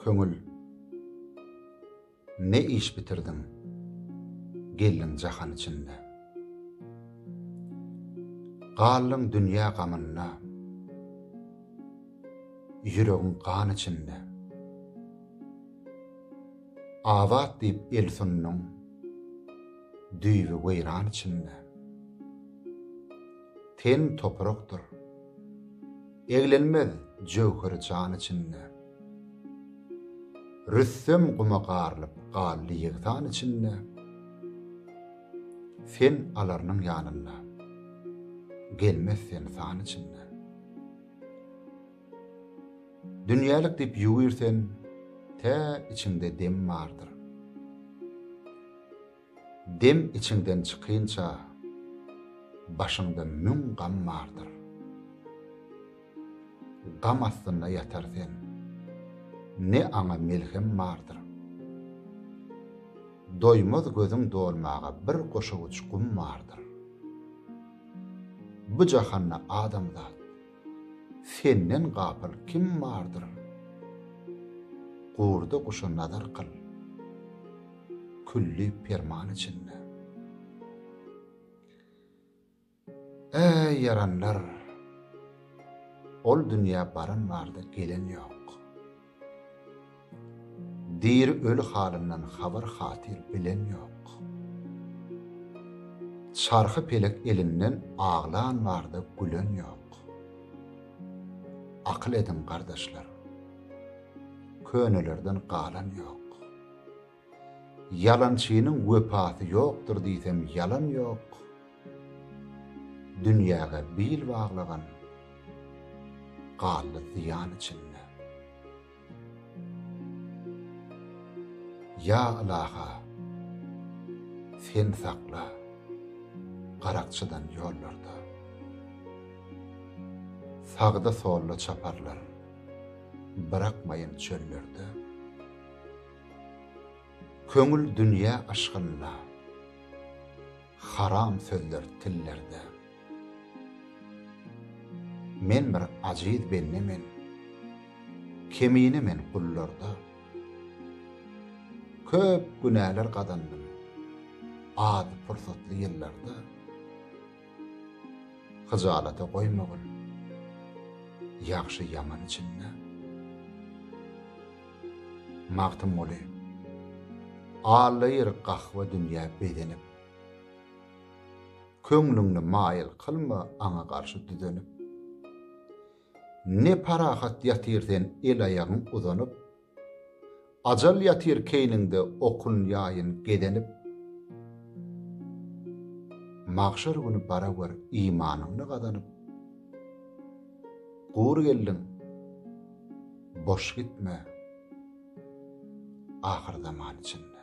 Köňül Ne iş bitirdiň Geldiň jahan içinde Galdyň dünýä gamynda Ýüregiň gan içinde Azat diýip el sunduň Düýbi weýran içinde. Ten toprakdyr. Eglenmez jöwher jan içinde. Rüstem guma garylyp galdy ýegsan içinde. Sen alarnyň ýanynda. Gelmez sen san içinde. Dünýälik diýip ýüwürsen, tä içiňde dem bardyr. Dem içiňden çykynça, başyňda müň gam bardyr. Gam astynda ýatar sen, ne aňa melhem bardyr. Doýmaz gözüň dolmaga bir goşawuç gum bardyr. Bu jahanda adamzat. Senden gapyl kim bardyr? Gurda guşa nazar kyl. Külli perman içinde. Äý, ýaranlar! Ol dünýä baran bardy, gelen ýok. Diri öli halyndan habar hatyr bilen ýok. Çarhy pelek elinden aglan barda gülen ýok. Akyl ediň gardaşlar. Könelerden galan ýok. Ýalançynyň wepasy ýokdur diýsem ýalan ýok, Dünýäge bil baglagan galdy zyýan içinde. Ýa Ylaha, Sen sakla garakçydan ýollarda, Sagda-solda çaparlar, brakmaýyn çöllerde. Köňül dünýä yşgynda. Haram sözler tillerde. Men bir ajiz bende men. Kemine men gullarda. Köp günäler gazandym. Az pursatly ýyllarda. Hyjalata goýmagyn ýagşy-ýaman içinde. Magtymguly. Allaýyr gahwa dünýä bezenip. Köňlüňni maýyl kylma aňa garşy düzenip. Ne parahat ýatyr sen el-aýagyň uzanyp. Ajal ýatyr keýniňde okun ýaýyn gezenip. Magşar güni bara gör imanyňny gazanyp. Gury geldiň, boş gitme, ahyrzaman içinde.